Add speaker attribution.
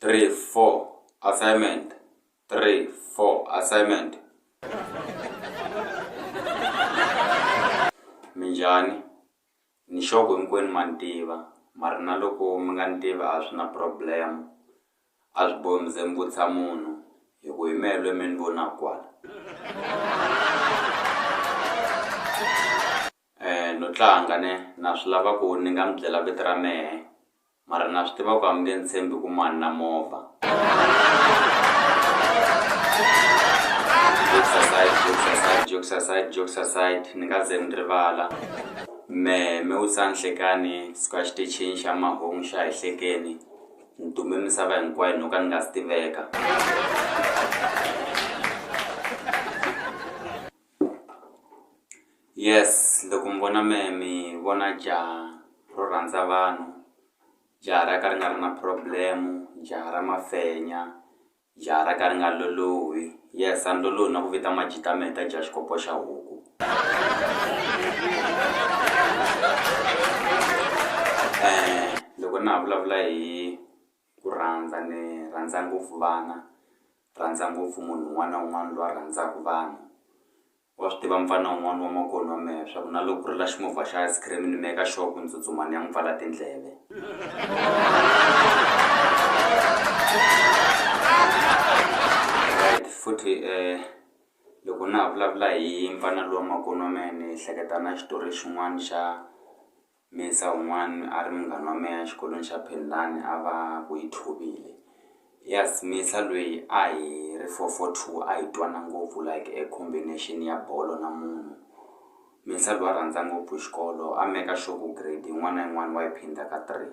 Speaker 1: 3 4 assignment 3 4 assignment minjhani ni sure ku hinkwenu ma ni tiva mara na loko mi nga ni tivi a swi na problem a swi bohi mi ze mi vutisa munhu hi ku hi mehe lweyi mi ni vonaka kwala Eh no tlanga ne na swi lava ku ni nga mi byela vito ra mehe mara na swi tiva ku a mi nge ni tshembi ku mani na movha jokes aside jokes aside jokes aside jokes aside ni nga ze ni rivala mehe me u sa nhlekani siku a xitichini xa mahungu xa hi hlekeni ni dume misava hinkwayo no ka ni nga si tiveka Yes loko mi vona mehe mi vona jaha ro rhandza vanhu, jaha ra ka ri nga ri na problem, jaha ra mafenya, jaha ra ka ri nga lolohi. Yes a ni lolohi na ku vita majita mehe ta jaha xikopo xa huku loko na ha vulavula hi. Ku rhandza, Ni rhandza ngopfu vana. Rhandza ngopfu munhu un'wana na un'wana loyi a rhandzaka vanhu. Wa swi tiva mfana un'wana wa makwerhu wa mehe leswaku na loko ku rila ximovha xa ice cream ni make sure ku ni tsutsuma ni ya n'wi pfala tindleve. Right, futhi loko na ha vulavula hi mfana luwa makwenu wa mehe ni hleketa na xitori xin'wana xa Mensa wun'wana a ri munghana wa mehe exikolweni xa Phindani a va ku i Thobile yes Mensa lweyi a hi ri four four two a hi twana ngopfu like a combination ya bolo na munhu Mensa lweyi a rhandza ngopfu xikolo a maker sure ku grade yin'wana na yin'wana wa yi phindha ka three.